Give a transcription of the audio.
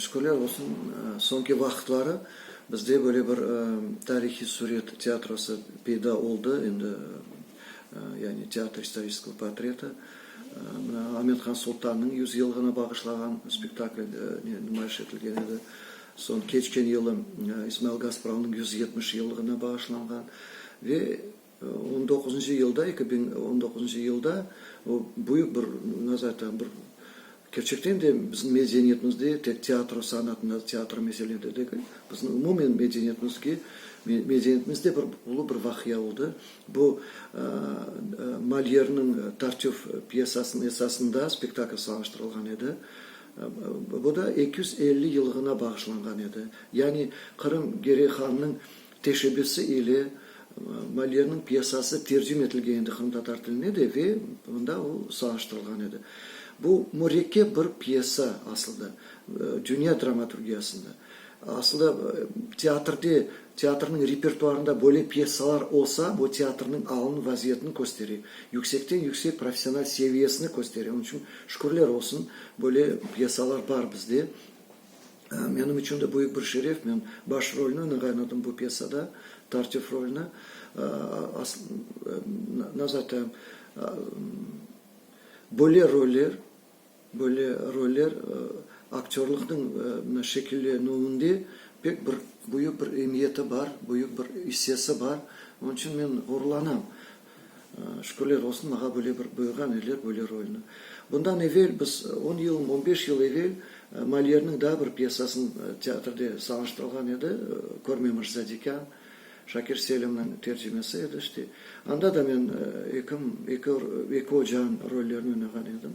Şükürler olsun, soñki vaqıtları bizde böyle bir tarihiy suret teatrosı peyda oldı, endi, yani Teatr istoriskого portreta. Mına Amethan Sultannıñ yüz yılğına bağışlağan spektakli numayış etilgen edi. Soñ keçken yılı İsmail Gaspravnıñ yüz yetmiş yıllıgına bağışlanğan ve, On doquzıncı yılda, eki biñ on doquzıncı yılda o büyük bir, nasıl aytayım, bir kerçekten de bizim medeniyetimizde tek teatro sanatında, teatro meselede degil, bizim umumen medeniyetimizge, medeniyetimizde bir ulu bir vaqia oldı. Bu Molyerniñ Tartüf pyesasınıñ esasında spektakl salıştırılğan edi. Bu da eki yüz elli yıllıgına bağışlanğan edi. Yani Qırım Geriy Hannıñ Teşebbüsi ile Moliyernıñ pyesası tercim etilgen edi qırımtatar tiline de ve mında o sağıştırılğan edi. Bu mürekkep bir pyesa asılda, dünya dramaturgiyasında. Asılda teatrde, teatrnıñ repertuarında böyle pyesalar olsa, bu teatrnıñ alın vaziyetini köstere, yüksekten yüksek professional seviyesini köstere. Onıñ içün şükürler olsun, böyle pyesalar bar bizde. Menim içün de büyük bir şeref, men baş rolni, nı ğaynadım bu pyesada, Tartif rolni. Aslında zaten böyle roller, böyle roller aktörlıqnıñ şekillenüvinde pek bir büyük bir emiyeti bar, büyük bir issesi bar. Onıñ içün men ğururlanam. Şükürler olsun, mağa böyle bir buyurğan ediler böyle rolni. Bundan evel biz on yıl, on beş yıl evel Molyerniñ daa bir pyesasını teatrde salınştırılğan edi, Körme Mırzadekan, Şakir Selimniñ tercimesi edi işte. Anda da men eki, eki ocanıñ rollerini oynağan edim.